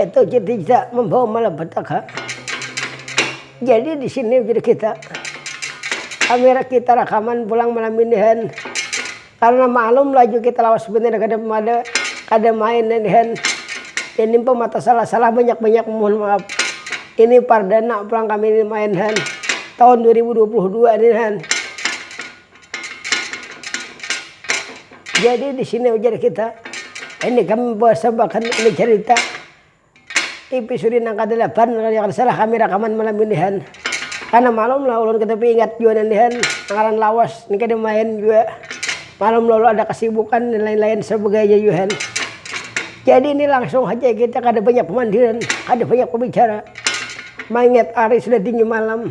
Itu kita membawa malapetaka. Jadi di sini kita kamera kita rakaman pulang malam ini han. Karena maklum laju kita lawas banar kada mada kada main ini han. Ini pang mata salah-salah banyak-banyak mohon maaf. Ini pardana pulang kami ini main han tahun dua ribu dua puluh dua ini han. Jadi disini ujar kita ini kami basabakan ini carita ipisudi nang kadalapan kalo kada salah kami rakaman malam inihan karna malum lah ulun katupi ingat jua nandihan nang ngaran lawas ni kada main jua malum lalu ada kasibukan dan lain-lain sabagainya juahan jadi ni langsung haja kita kada banyak pamandiran kada banyak babicara maingat hari sudah tinggi malam.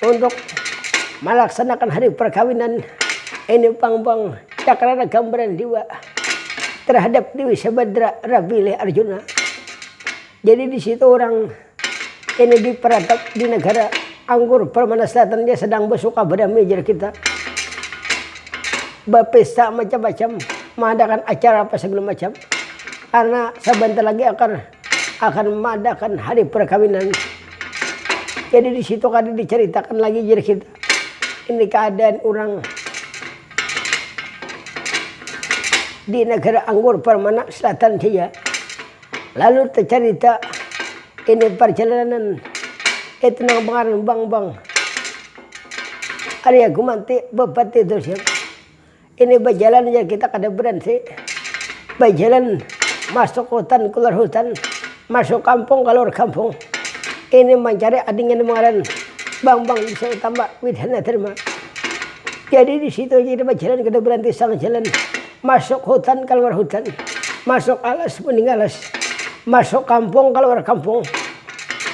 Untuk malaksanakan hari perkawinan ini pang pang cakrana gambaran jua terhadap dewi sabadra rapilih arjuna jadi disitu orang ini diperatap di negara anggur permana selatan ja sedang besuka berdamai jar kita bapesta macam macam mengadakan acara apa segala macam karena sebentar lagi akan. akan madakan hari perkawinan jadi disitu kada diceritakan lagi jar kita ini keadaan urang di negara anggur permanak selatan saja lalu tecerita ini perjalanan itu nang pengaran bang bang arya gumanti bupati tusiak Ini bajalan jar kita kada berenti. Bajalan masuk hutan keluar hutan, masuk kampung kaluar kampung. Ini mancari ading yang ngaran Bambang Desa Utama Widhana Dharma. Jadi di situ aja kita bajalan kada berenti sang jalan. Masuk hutan kaluar hutan, masuk alas mending alas, masuk kampung kaluar kampung,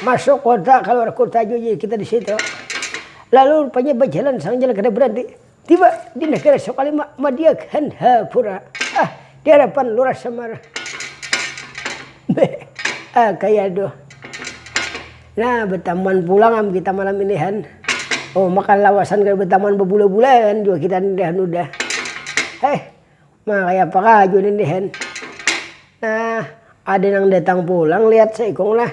masuk kota kaluar kota jua kita di situ. Lalu rupanya bajalan sang jalan kada berenti. Tiba di negara Sokalima, Madiak, Hanhapura, ah, di harapan Lurah Samar. Be, ah, kaya aduh. Nah, betamuan pulang am kita malam ini han. Oh, maka lawasan kada betamuan babula-bula kan jua kita ini han udah. Heh. Nah kaya apa kaju nih dihen. Nah ada nang datang pulang liat seikung lah.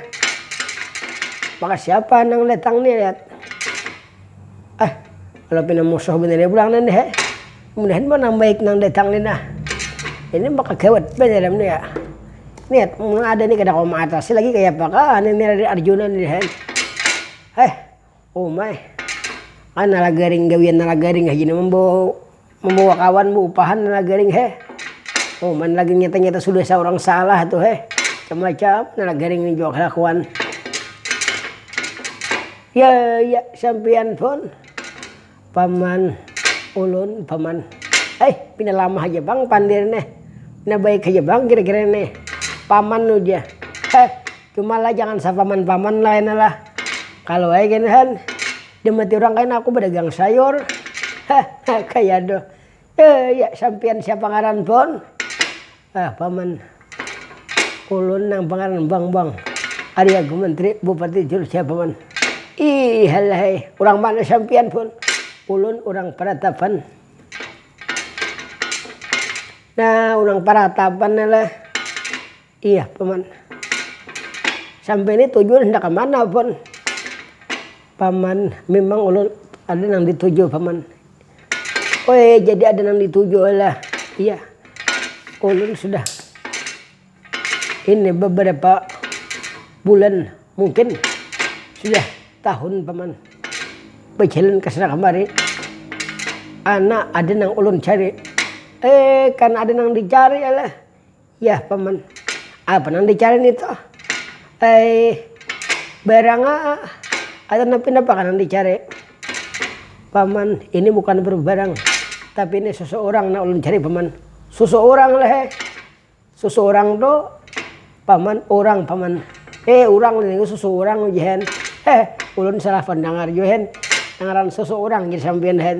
Maka siapa nang datang nih liat. Ah kalo pina musuh banar ja pulang nih he. Mudahan pulang nang baik nang datang nih nah. Ini maka gawat banar am nih ya. Liat mun ada nih kada kawa maatasi lagi kaya apakah nih Arjuna nih he. Heh Uma eh. Kan nalagaring gawian nalagaring haja nang mambawa kawan baupahan nalagaring heh. Uma nalagaring nyata-nyata sudah saurang salah tu heh. Macam-macam nalagaring nih jua kalakuan. Ya ya sampiyan pun. Paman ulun paman ai pina lama haja pang pandir nih pina baik haja pang kira kira nih paman uja heh cuma lah jangan sa paman paman lah kena lah kalu ai kena kan dimati urang kena aku badagang sayur heh kaya aduh sampian siapa ngaran pun Nah paman, ulun nang pangaran bang bang ari agu menteri bupati jurus ya paman. Iihalaihai urang mana sampian pun, ulun urang paratapan. Nah urang paratapan ni lah, iyah paman. Sampai ni tuju handak kamana pun, paman memang ulun ada nang dituju paman. Oe, jadi ada nang dituju oe lah. Iya, ulun sudah ini beberapa bulan mungkin sudah tahun paman bejalan kesana kemari ana ada nang ulun cari, eh kan ada nang dicari lah. Yah paman, apa nang dicari nitu? Ai, barang atau nang pinapakah nang dicari? Paman, ini bukan barang, tapi ini susuurang nang ulun cari paman. Susuurang lah he, susuurang tu paman urang paman, he urang lah ini susuurang ujihan, he ulun salah pandangar jua hen, ngaran susuurang jar sampiyan hen.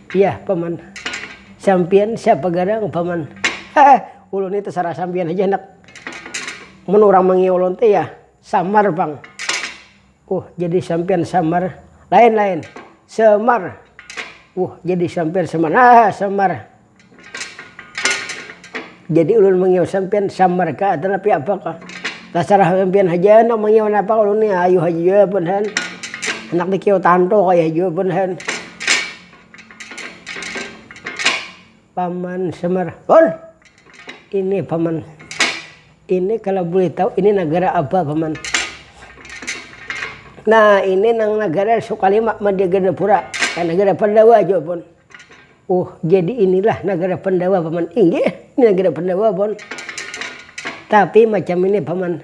Yah, Paman. Sampiyan siapa garang, Paman? Heh, ulun ni tasarah sampiyan haja handak. Mun urang mangiya ulun teh yah Samar pang. Huh, jadi sampiyan Samar? Lain, lain. Semar. Huh, jadi sampiyan Semar? Hah, Semar. Jadi ulun mangiau sampian samar ka atau tapi apa ka. Tasarah am pian haja handak mangiau napa ulun ni ayu haja jua buhan. Handak di kiau tanto kaya jua buhan. Paman samar, hon! Ini paman, ini kalo boleh tau ini nagara apa paman. Nah ini nang nagara sukalima madiaganapura, kaya nagara pandawa jua pun. Ohh jadi inilah nagara pandawa paman inggih ini nagara pandawa pon tapi macam ini paman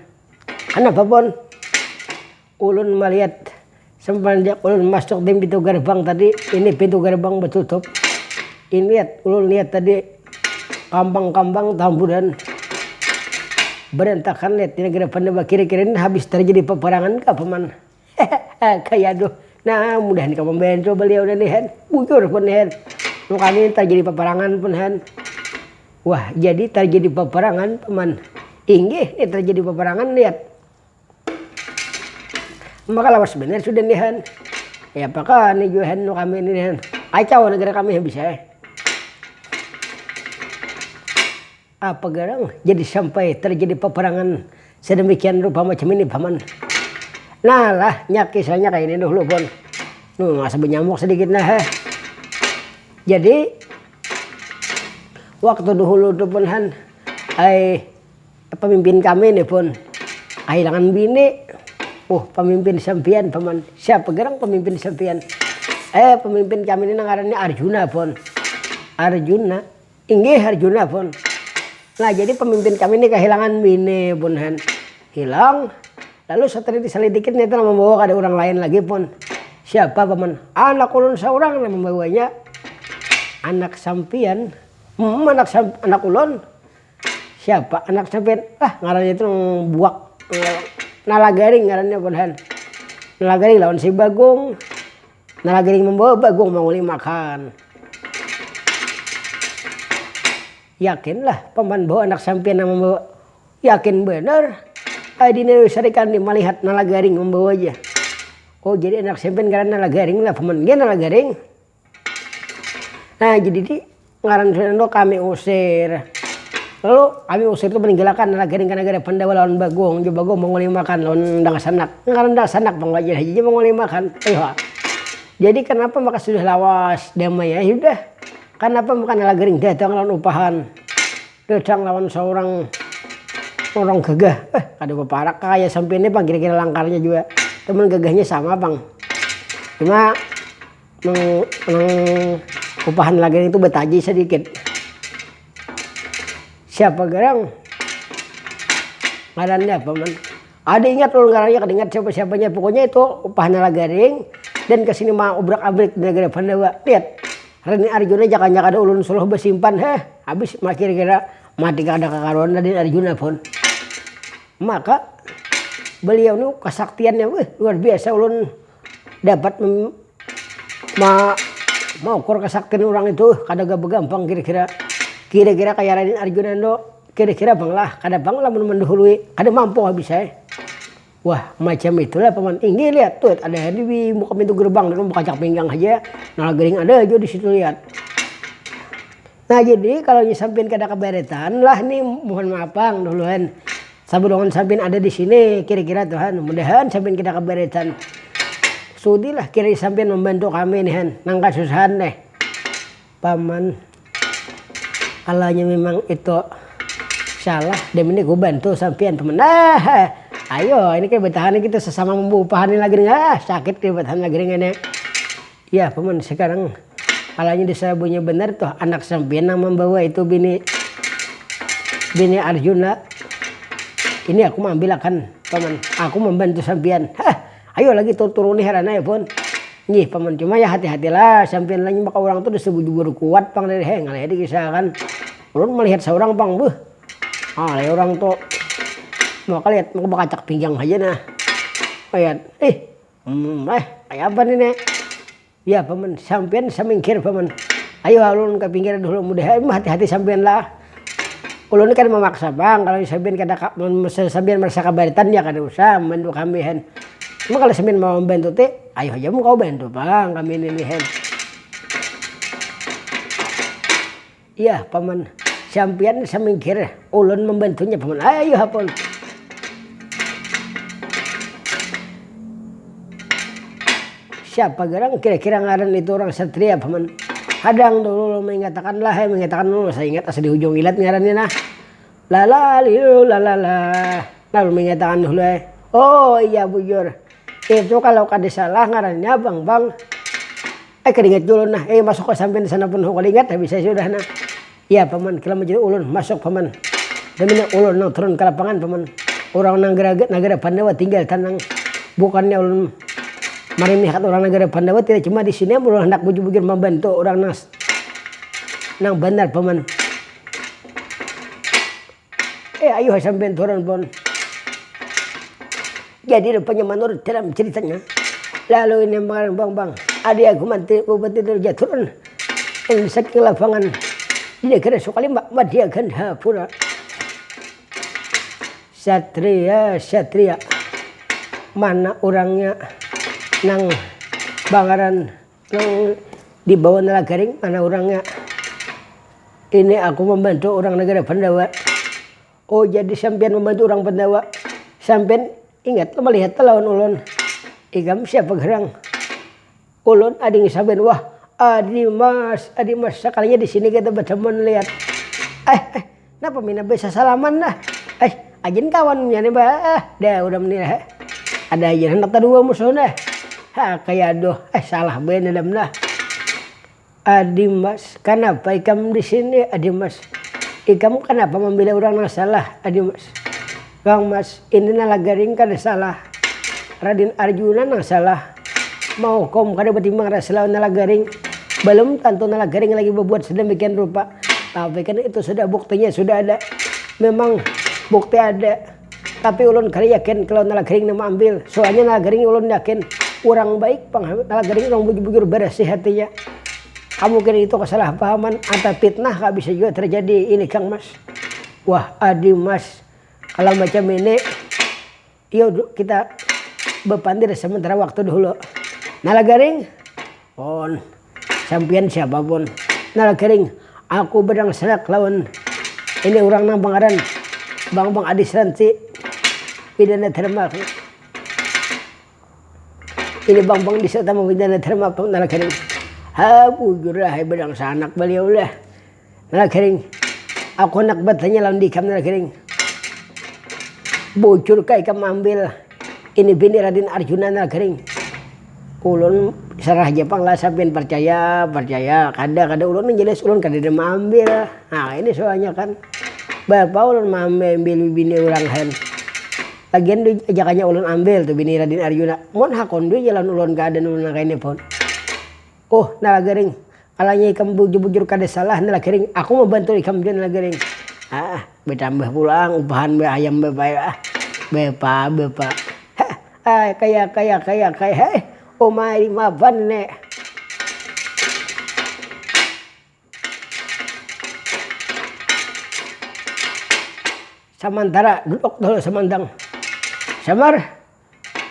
kanapa pon ulun maliat semenjak ulun masuk di pintu gerbang tadi ini pintu gerbang batutup ini liat ulun liat tadi kambang kambang tamburan berantakan liat ini nagara pandawa kira kira ini habis terjadi peperangan kah paman. Hehehe kaya tu nah mudah nika membantu beliau nih hen bujur pun hen nu kami tarjadi paparangan pun hen wah jadi tarjadi paparangan paman inggih nih tarjadi paparangan lihat maka lawas banar sudah nih hen ya paka nih jua hen nu kami nih hen kacau negara kami habis ai. Apa garang jadi sampai terjadi peperangan sedemikian rupa macam ini paman. Nah lah nya kisahnya kaya ini dahulu pun. Nuh masa benyamuk sedikit nah heh. Jadi waktu dahulu tu pun han ai pemimpin kami nih pun kahilangan bini, uh pemimpin sampian paman, siapa garang pemimpin sampian, eh pemimpin kami ni nang ngarannya arjuna pun, arjuna. Inggih Arjuna pun. Nah jadi pemimpin kami ini kehilangan bini pun han. Hilang. Lalu setelah diselidiki ternyata nama membawa ada orang lain lagi pun. Siapa paman? Anak ulun seorang nama membawanya. Anak sampian. Hmm, anak sam anak ulun. Siapa anak sampian? Ah, ngarannya itu buak. Nalagaring ngarannya pun han. Nalagaring lawan si Bagong. Nala gering membawa bagong manguli makan. Yakin lah paman bahwa anak sampiyan nang membawa. Yakin banar. Ai dina wisar ikam ni malihat nala garing membawa ja. Oh jadi anak sampiyan ngarannya nala garing lah paman gin nala garing. Nah jadi di. Ngaran sudah tu kami usir. Lalu kami usir tu meninggilakan nagari ka nagara Pandawa lawan Bagong jua Bagong mangulimakan lawan Dangsanak. Ngaran Dangsanak pang wajin haja ja mangulimakan. Ayuh ha. Jadi kanapa maka sudah lawas, damai ai sudah. Kanapa maka nalagaring datang lawan upahan. Datang lawan saurang urang gagah. Eh kada baparak ka kaya sampiyan ni pang kira-kira langkarnya jua. Cuman gagahnya sama pang. Cuma. kupahan lagi itu betaji sedikit siapa gerang ngarannya apa man ada ingat ulun ngarannya kada ingat siapa siapanya pokoknya itu upahana lagaring dan kesini ma ubrak abrik di negara pandawa lihat reni arjuna jakanya kada ulun suruh besimpan heh habis ma kira kira mati kada kakaruan reni arjuna pun maka beliau ni kesaktiannya wih luar biasa ulun. Dapat maukur kasaktin urang itu kada gapa gampang kira-kira. Kira-kira kaya Raden Arjuna ndo, kira-kira pang lah, kada pang lah mun mandahului, kada mampu habis ai. Wah macam itu lah paman, inggih lihat tuh ada ai di muka pintu gerbang, dulu bakancak pinggang haja, nalagaring ada jua di situ lihat. Nah jadi kalau nya sampin kada kabaretan lah ni mohon maaf pang dahuluan sabalum sampin ada disini kira kira tu han mudahan sampin kada kabaretan sudi lah kira sampin mambantu kami ni han nang kasusahan nih paman kalau nya memang itu salah demi ni ku bantu sampian paman aahh ayo ini kaya betahan kita sesama mambuuh pahan ini lagi nih aahh sakit kaya betahan lagi nih ngini. Yah paman, sekarang palanya disabunya banar tuh anak sampiyan nang mambawa itu bini bini arjuna ini aku maambil akan paman, aku mambantu sampiyan hah ayo lagi tur turuni heran ai pun, nggih paman cuma ya hati hatilah sampiyan lagi maka urang tuh disabu jubur kuat pang lele heh ngalih ai dikisah akan, ulun malihat saurang pang beuh ngalih urang tuh maka lihat maka bakacak pinggang haja nah malihat ih. Umum, eh kaya apa nih nek. Ya paman, sampian samingkir paman. Ayu ha ulun ka pinggir dahulu mudah ha imah hati hati sampian lah. Ulun ni kada mamaksa pang kalo sampian kada ka mun misalnya sampian marasa kabaritan ya kada usah mambantu kami hen. Cuma kalo sampian mau mambantu ti ayu haja mun kawa bantu pang kami ini nih hen. Iyah, Paman. Sampiyan samingkir, ulun mambantunya, Paman. Ai, ayuh apun. Siapa garang kira-kira ngaran itu urang satria, Paman? Hadang dulu ulun maingatakan lah. Ai, maingatakan dulu. Saingat asa di hujung ilat ngarannya nah. Lalalilu lalala. Nah, ulun maingatakan dulu ai. Oh, iyah bujur. Itu kalau kada salah ngarannya Bangbang. Ai kada ingat jua ulun nah, ai masuk ai sampiyan disana pun kada ingat habis ai sudah nah. Iya paman, kila majalah ulun, masuk paman. Damina ulun nang turun ka lapangan paman, urang nang nagara pandawa tinggal tanang, bukannya ulun marimihakan urang nagara pandawa tidak cuma disini am ulun handak bujur bujur mambantu urang nang banar paman. Eh ayuha sampiyan turun pun. Jadi rupanya manurut dalam ceritanya, lalu ini makanan bang bang, adi aku manti bupati dari jaturun dan saking lapangan di negara sukalimba madya gandhapura. Satria satria mana urangnya nang bangaran. Nang dibawa Nala Garing mana urangnya? Ini aku mambantu urang nagara Pandawa. Oh, jadi sampiyan mambantu urang Pandawa. Sampiyan ingat lo malihat ta lawan ulun? Ikam siapa garang? Ulun Ading Saban. Wah, Adimas, Adimas. Sakalinya di sini kita batamuan lihat. Eh, eh. Napa pina bisa salaman lah. Ai ajin kawan nya nih bah. Dah udah nih lah. Ada aja handak tadua musuh nih. Ha kaya aduh ai salah banar dam nah. Adimas, kanapa ikam di sini adimas. Ikam kanapa mambela urang nang salah adimas. Kang Mas, ini nala garing kada salah. Raden Arjuna nang salah. Mahukum kada batimbang rasa lawan nala garing. Balum tantu nala garing lagi babuat sadamikian rupa. Tapi kan itu sudah buktinya sudah ada. Memang bukti ada. Tapi ulun kada yakin kalau nala garing nang maambil. Soalnya nala garing ulun yakin urang baik pang. Nala garing urang bujur-bujur barasih hatinya. Kamungkinan itu kasalahpahaman atau pitnah kah bisa jua terjadi ini Kang Mas. Wah adi Mas, Kalau macam ini iyo kita bepandir sementara waktu dahulu. Nala garing? Pon, sampiyan siapa pon? Nala garing, aku benang serak lawan ini urang nang bangaran Bambang Adis Ranti, Pidana Dharma. Ini Bambang Adis Utama Pidana Dharma, Nala garing. Hah bujur lah benang sanak baliau lah. Nagring, aku handak batanya lawan ikam Nagring, bujurkah ikam maambil ini bini Raden Arjuna Nagring? Ulun sarah haja pang lah sapian parcaya parcaya, kada kada ulun nang jelas ulun kadada maambil, nah ini soalnya kan beapa ulun maambil bini urang kan, lagian jakanya ulun ambil tuh bini Raden Arjuna, mun hakun duit ja lawan ulun keadaan ulun nang kayani pun. Huh, Nala Gering, kalanya ikam bujur-bujur kada salah, Nala Gering. Aku mambantu ikam jua, Nala Gering. Hah, batambah pulang upahan ba ayam bapayu ah. Bapa, bapa. Hah, ai, kaya, kaya, kaya, kaya, heh. Uma lima ban ne. Samantara, duduk dahulu Samantang. Samar,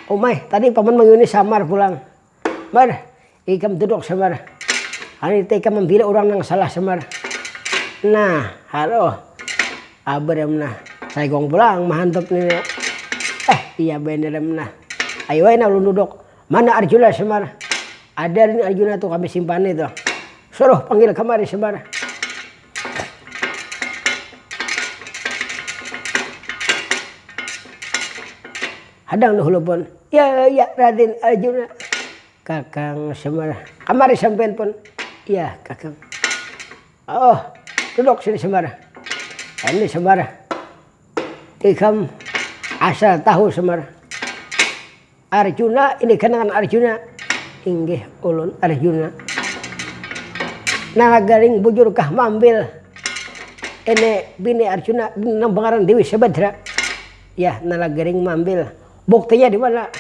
Umai, tadi paman mangiuni Samar pulang. Mar, ikam duduk Semar, hari nita ikam mambila urang nang salah Semar. Nah, haruh abram nah, saikung pulang mahantup ni nah. Eh, iya banar am nah. Ayu ai nah ulun duduk. Mana Arjuna Semar, ada ni Arjuna tu kami simpani tu. Suruh panggil kamari Semar. Hadang nuh lupon. Ya, ya, Raden Arjuna. Kakang Semar, kamari sampean pon. Ya, Kakang. Oh, duduk sini Semar. Ini Semar, ikam asal tahu Semar. Arjuna ini kenangan Arjuna. Inggih, ulun Arjuna. Nalagaring bujurkah mambil ini bini Arjuna nang bangaran Dewi Sabadra. Yah nala garing maambil. Buktinya dimana?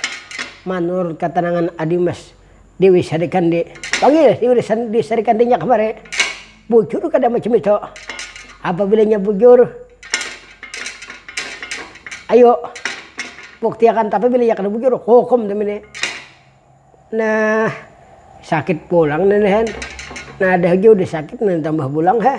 Manurut katanangan Adimas, Dewi Sarikandi. Panggil Dewi Sarikandinya kamari. Bujur kada macam itu? Apabila inya bujur, ayu buktiakan. Tapi bila inya kada bujur, kuhukum demi ini. Nah, sakit pulang nih, Hen. Nah, dah jua udah sakit, nang tambah pulang, heh.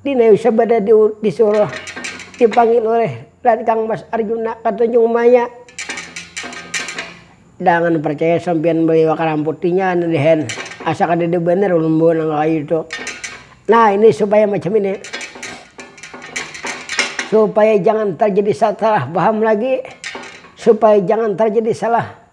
Dina Yusuf banar disuruh dipanggil ulih Rancang Mas Arjuna ka Tanjung Maya. Jangan parcaya sampiyan baliwak ka ramput inya anu dehen, asa kadada banar ulun bawa nang kakayu tu. Nah ini supaya macam ini, supaya jangan tarjadi sasalah paham lagi, supaya jangan tarjadi salah.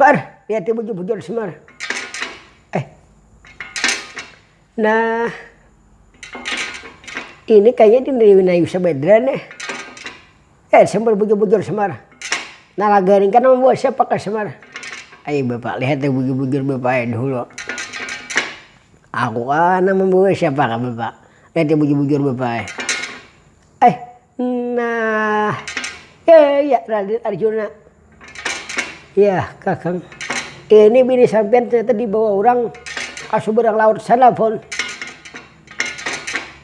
Par, liati bujur-bujur semar. Eh. Nah. Ini kayaknya dineriwi nayu sebedra nih. Eh, sembar bujur-bujur semar. Nah, lagaring kan nama buah siapa ke semar. Ayo bapak, lihat bujur-bujur bapak ini dulu. Aku kan nama buah siapa ke bapak. Lihat bujur-bujur bapak. Eh, nah. Eh, ya Raden Arjuna. Ya, Kakang. Ini bini sampean ternyata dibawa orang ke seberang laut sana, Pun.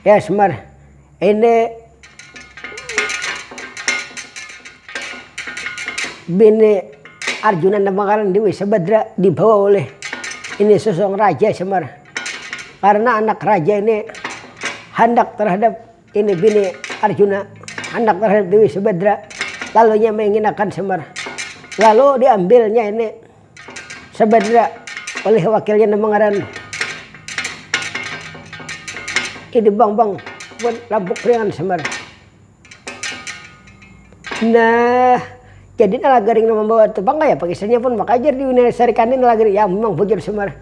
Ya, Semar. Ini bini Arjuna Namakan Dewi Sabadra dibawa oleh ini sosok raja Semar. Karena anak raja ini handak terhadap Ini bini Arjuna handak marahan Dewi Subadra, lalu inya mainginakan Semar. Lalu diambilnya ini Subadra oleh wakilnya nang bangaran Idi Bambang wan Lampuk Priangan Semar. Nah, jadi Nalagaring nang mambawa tu pang kayapa kisahnya pun maka jar Dewi Sarikandi Nalagaring, ya memang bujur Semar.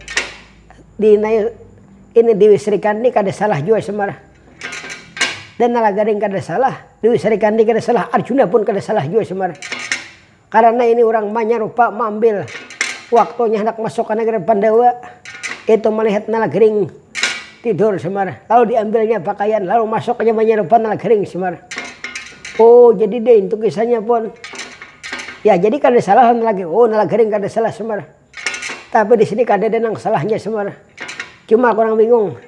Ini Dewi Sarikandi kada salah jua Semar. Dan Nalagaring kada salah, Dewi Sarikandi kada salah, Arjuna pun kada salah jua Semar. Karana ini urang manyarupa maambil waktunya handak masuk ka nagara Pandawa, itu malihat Nalagaring tidur Semar. Lalu diambilnya pakaian, lalu masuk aja manyarupa Nalagaring Semar. Oh jadi deh intu kisahnya pun. Ya jadi kada salah lawan Nalagaring. Oh Nalagaring kada salah Semar. Tapi di sini kadada nang salahnya Semar. Cuma aku nang bingung,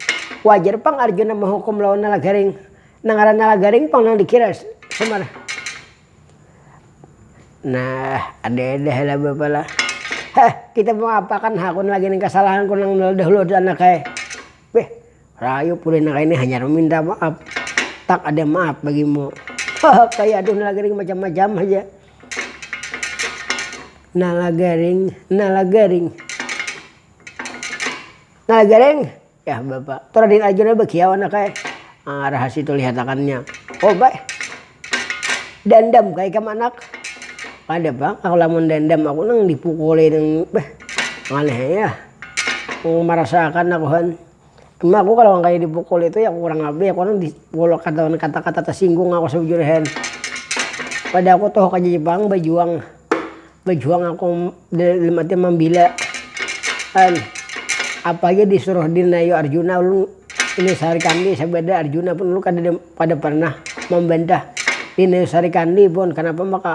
wajar pang Arjuna mahukum lawan Nalagaring. Nang ngaran Nalagaring pang nang dikira Semar. Nah, ada-ada ha lah bapa lah. Heh, kita mangapa akan hakun lagi nih kasalahanku nang dahulu tu anak ai. Beh. Rayu pule nang kaini hanyar maminta maap. Tak ada maap bagimu. Haha kaya aduh nalagaring macam macam haja. Nalagaring nalagaring. Nalagaring yah bapa tu raden arjuna bakiau anaknya ah raha situ lihatakannya oba eh. Dandam ka ikam anak. Kada pang aku lamun dandam aku nang dipukuli nang beh aneh ai ah. Marasa akan akuhan. Cuma aku kalo kaya dipukuli tu ya kurang labih aku ni digolok lawan kata-kata tasinggung aku sebujurnya hen. Pada aku tuh aku jadi pang bajuang, bajuang aku dalam arti mambila hen. Apa haja disuruh dinayu arjuna ulun ini sarikandi sabada arjuna pun ulun kada kada pernah mambantah. Dinayu sarikandi pun kanapa maka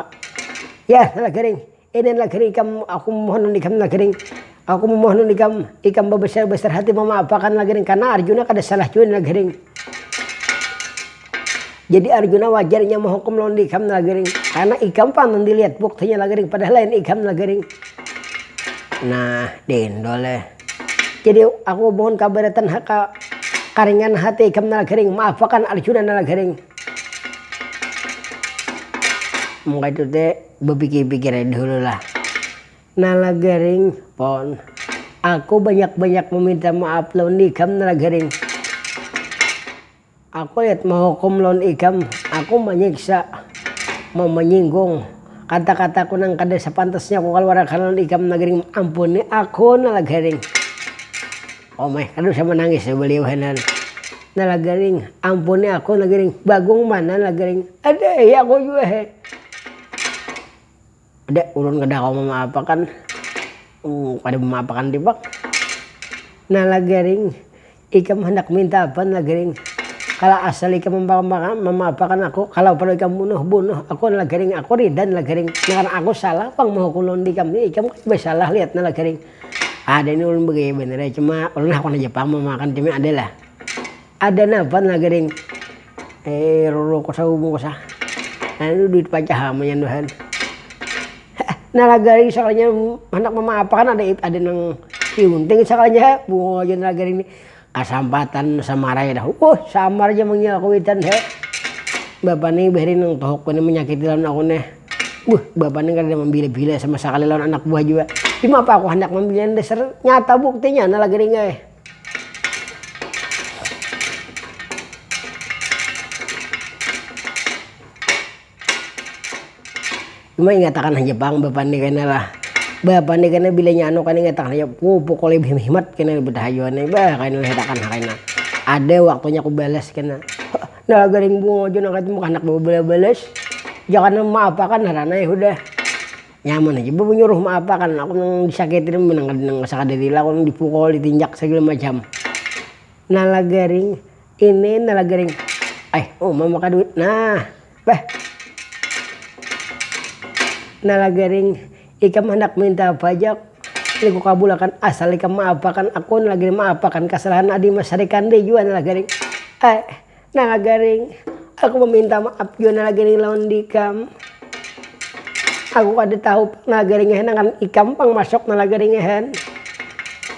yah salah garing. Ini adalah kering ikam, aku memohon lawan ikam Nagering, aku memohon lawan ikam, ikam babasar-basar hati mamaafakan Nagering, karna Arjuna kada salah jua Nagering. Jadi Arjuna wajar inya mahukum lawan ikam Nagering, karna ikam pang nang dilihat buktinya Nagering, padahal lain ikam Nagering. Nah, diindu leh. Jadi aku mohon kabaratan haka karingan hati ikam Nagering, maafakan Arjuna Nagering. Maka itu te. Bepikir-pikir ai dahulu lah. Nalagaring, pon. Aku banyak-banyak meminta maaf lawan ikam Nalagaring. Aku lihat mahukum lawan ikam, aku manyiksa, mamanyinggung, kata-kataku nang kada sapantasnya kukaluarakan lawan ikam Nalagaring. Ampuni aku Nalagaring. Omeh kada usah manangis jar beliau hainan. Nah lah gering, ampuni aku nah gering, bagung mana lah gering, aduh ya aku jua he. Dek ulun kada kawa mamaapakan, kada mamaapakan dipak. Nah lah gering, ikam handak minta apa lah gering, kalo asal ikam mamaapakan aku, kalo perlu ikam bunuh, bunuh aku lah gering, aku rida lah gering, nang aku salah pang mahukum lawan ikam ni, ikam kada basalah lihat ni lah gering. Ada ni ulun begaya banar ai, cuma ulun hakun haja pang mun makan cumi ada lah. Ada napa nah gering roro kuasa umum kuasa anu duit pajak ha munnya nduhan. Nah lah gering sekalinya handak mamaaf akan ada nang tiunting sekalinya ha, buah ja nah gering ni. Kasampatan samarai dah wuh samar ja manggil kuwitan he bapa nih bahari nang tuhuk ku nih manyakiti lawan aku nih wuh bapa nih kadada mambila bila sama sakali lawan anak buah jua cuma apa aku handak mambilan dasar nyata buktinya nala gering ai Cuma ingatakan haja pang bapandi kena lah bapandi kena bila nya anu kan ingatakan haja ku pukuli beh himat kena betahayuan ni bah kaya nang hetakan ha kena ada waktunya ku balas kena nah garing bungo ja nang kaya tu handak bawa bala balas jangan nang ma apakan ngarannya ya hudah nyaman haja ba menyuruh ma apakan aku nang disakitin me nang kada nang sakada lila ku nang dipukul ditinjak segala macam nala garing. Ini nah lagi ring ai uma maka duit nah bah nah lagi ring ikam handak minta pajak ini ku kabulakan asal ikam maapakan aku nah lagi ring maapakan kasalahan adi mas rikandi jua nah lagi ring ai nah lagi ring aku maminta maap jua nah lagi ring lawan dikam aku kada tahu pang nah lagi ring nang ngaran ikam pang masuk nah lagi ring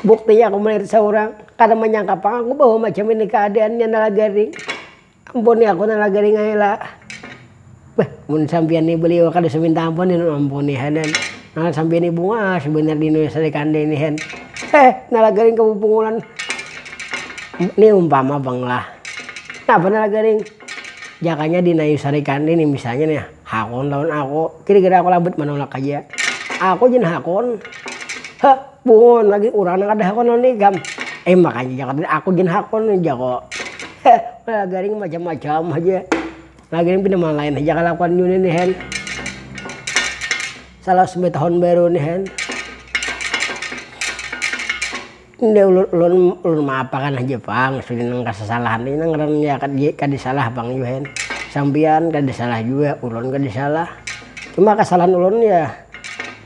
buktinya aku melihat saurang. Kada manyangka pang aku bahwa macam ini keadaannya nala garing. Ampuni aku nala garing ai lah. Bah, mun sampiyan ni beliau kada usah minta ampun hin, ampuni hanan. Nala sampiyan ni bungas banar di nulis hari kandai ni hin. Heh, nala garing kamu pungulan. Ni umpama pang lah. Napa nala garing? Jakanya di nayus hari kandai ni misalnya nih. Hakun lawan aku, kira-kira aku labut manulak haja. Aku jan hakun, ha bungun lagi urang nang kada hakun lawan ikam. Eh makanya jar tadi aku jan hakun ujarku. Heh ulala garing macam-macam haja. Lagian pina malain haja kalakuan jua ini hen. Salah subahat tahun baru ini hen. Inda ulun, ulun ulun maapakan haja pang sudah nang kasasalahan ni nang ngaran ya kada salah pang jua hen, sampiyan kada salah jua ulun kada salah, cuma kasalahan ulun ya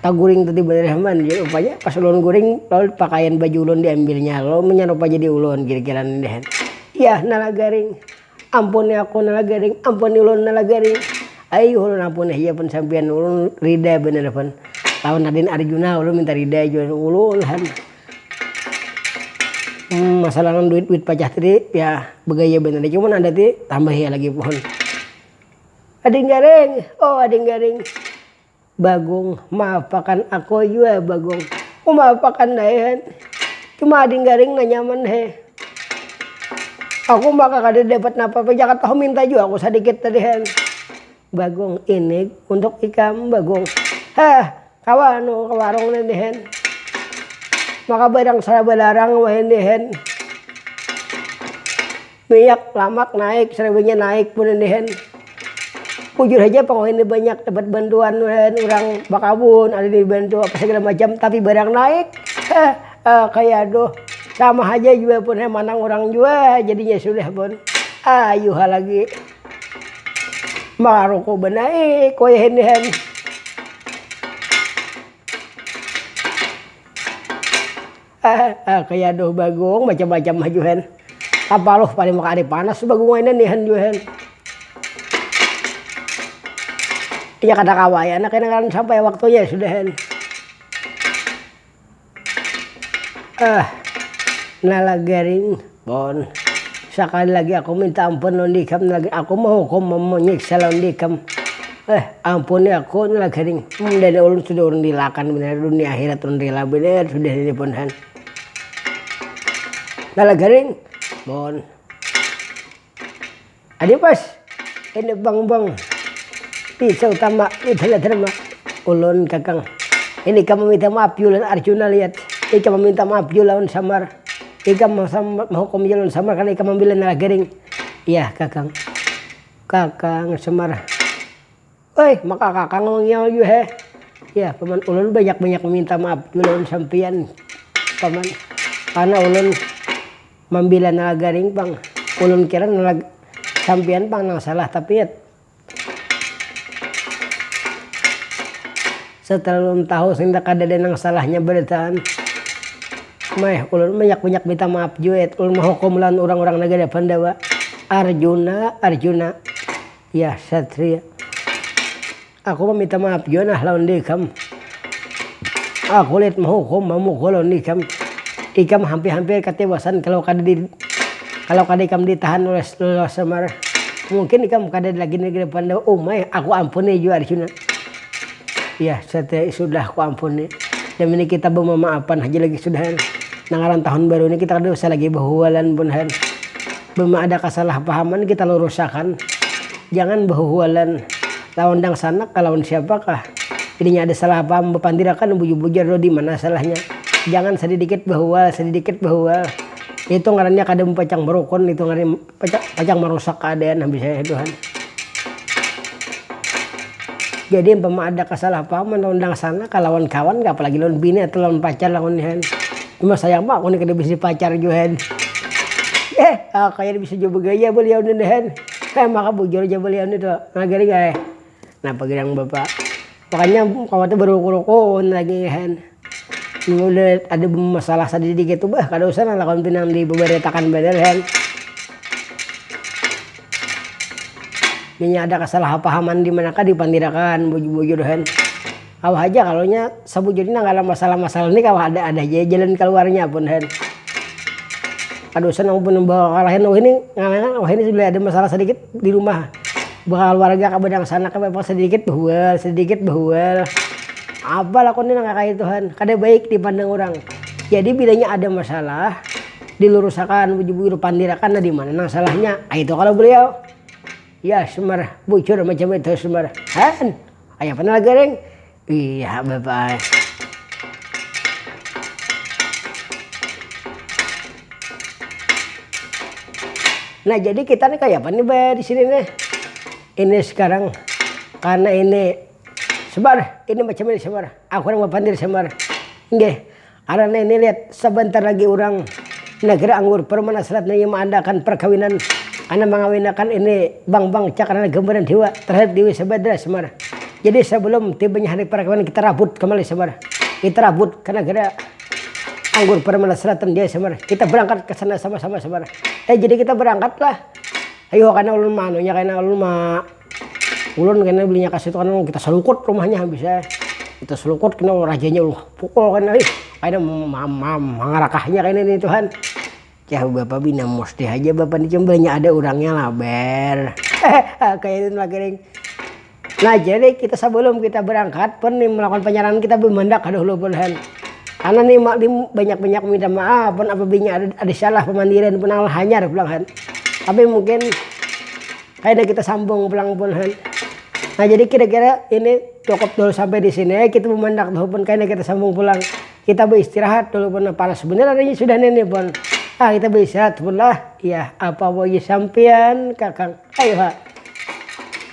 taguring tadi banar haman jar rupanya pas ulun guring lalu pakaian baju ulun diambilnya lalu manyarupai jadi ulun kira-kira nang ini hen, iyah nala garing. Ampuni aku nala garing, ampuni ulun nala garing. Ayuh ulun ampuni haja pun sampiyan, ulun rida banar pun. Lawan Raden Arjuna ulun minta rida haja wan ulun han. masalah lawan duit duit pacah tadi ya bagaya banar haja cuman ada ti tambahi lagi pohon. Ading garing, oh ading garing. Bagong, ma apakan ako jua bagong. Uma apakan daehan. Cuma ading garing na nyaman he. Aku ma kakada dapat napa apa jaka tahu minta jua aku sadikit tadihan. Bagong, ini untuk ikam bagong. Heh kawa anu ke warung nih dihan. Maka barang sara balarang wahini dihan. Miyak, lamak naik, sariwinya naik mun ini hen. Bujur haja pang wahini banyak dapat bantuan uhen, urang bakabun ada dibantu apa segala macam tapi barang naik heh kaya aduh. Sama haja jua pun heh manang urang jua jadinya sudah pun. Ayu ha lagi maruku banaik wayahini hen. Hahaha kaya aduh bagung macam macam ha jua hen apa luh paling maka ada panas tu bagung wainan ni han jua hen. Inya kada kawa ya nah kena ngaran sampai waktunya ya sudah hen. Hah nala garing. Bon. Sakali lagi aku minta ampun lawan dikam lagi aku mahukum manyiksa lawan dikam. Eh ampuni aku ni lagi ring. Mundani ulun sudah urun rilakan banar dunia akhirat urun rila banar sudah ini pun han. Nah lagi ring. Bon. Aduh bos, ini bang bang pisau tama widhala dharma ulun kakang ini ikam meminta maaf jua lawan arjuna lihat ikam meminta maaf jua lawan samar ikam mehukum jua lawan samar karna ikam membela nalagaring iya kakang kakang samar. Oi maka kaka ngomongnya yu heh. Ya paman ulun banyak banyak meminta maaf jua lawan sampiyan paman karena ulun mambila nalagaring pang ulun kira sampiyan pang nang salah tapi ya setelah ulun tahu senda kadada nang salahnya berataan meh ulun banyak banyak minta maaf jua ulun mahukum lawan urang urang nagara pandawa arjuna arjuna. Yah satria. Aku mamita maap jua nah lawan deikam. Aku lit mahukum mamukul lawan ikam. Ikam hampir-hampir katiwasan kalau kada di kalau kada ikam ditahan oleh Lala Semar. Mungkin ikam kada lagi di depan Dewa Umay. Aku ampuni jua Arjuna. Yah satria sudah ku ampuni. Dam ini kita bamamaapan haja lagi sudah. Nang ngaran tahun baru ini kita kada usah lagi bahualan pun. Mun ada kasalahpahaman kita lurusakan, jangan bahuhualan lawan dangsanak kah lawan siapakah, inya ada salah paham bapandirakan bujur-bujur dulu dimana salahnya, jangan sadidikit bahual sadidikit bahual, itu ngarannya kada mapacang marukun itu ngarannya pacang marusak kaadaan habis itu han. Jadi umpama ada kasalahpahaman lawan dangsanak kah lawan kawan kah apalagi lawan bini atau lawan pacar lawan ini han. Imbah sayang ma aku ni kada bisi pacar jua hen. Heh ah kaya bisi jua bagaya baliau ni hen. Heh maka bujur ja baliau ni tu. Nah gari ga eh. Napa gin nang bapa. Makanya kawa tu baruku-ruku ni lagi hen. Mun udah ada bamasalah sadikit dikit tu bah kada usah nang lakuan pinang di babaritakan banar hen. Munnya ada kasalahpahaman dimana kah dipandirakan bujur-bujur hen. Kawa haja kalo nya sabujurnya nang kalo masalah-masalah ni kawa ada ada haja jalan kaluarnya pun hen. Kada usah nang pun bawakalahin wahini ngarannya wahini sudah ada masalah sadikit di rumah bakaluarga kah badang sanak kah memang sadikit bahual sadikit bahual apa lah kuni nang kaya itu han kada baik di pandang urang. Jadi bilanya ada masalah dilurusakan bujur-bujur pandirakan lah dimana nang salahnya kaya itu kalo beliau. Ya sumar bujur macam itu sumar han kaya apa lagi ring iya bapak ai. Nah jadi kita nih kaya apa nih bah disini nih ini sekarang karna ini sumar ini macam ini sumar aku nang bapandir sumar nggih. Karena ini lihat, sabantar lagi urang Nagara Anggur, Permana Selat naya maadakan parkawinan karena mangawinakan ini Bang Bang Cak karena gambaran hiwa terhadap Dewi Sabadra Semar. Jadi sebelum tibanya hari parkawinan kita rabut ke Malai Semar. Kita rabut ke Nagara Anggur Permana Selat dan Dewi Semar. Kita berangkat ke sana sama-sama Semar. Eh jadi kita berangkat lah. Ayuha kena ulun maanunya kena ulun ma. ulun kena belinya kasitu karna kita selukut rumahnya habis ya kita selukut kena rajanya ulun pukul kena ih kaya mangarakahnya kena nih tuhan jar bapa pina musti haja bapa nih cuma banyak ada urangnya laber kaya itu lagiling nah jadi kita sebelum kita berangkat pun nih melakukan penyerangan kita bemandak aduh lupa tuhan karna nih ma nih banyak banyak minta maaf pun apabinnya ada ada salah pamandiran pun hanyar pulang kan tapi mungkin. Kaina kita sambung pulang pun han. Nah jadi kira-kira ini cukup dulu sampai di sini ya kita memandak dulu pun kaina kita sambung pulang. Kita beristirahat dulu pun nah, panas bener adanya sudah ini pun. Ah kita beristirahat pun lah. Ya apa woi sampian kakang. Ayo ha.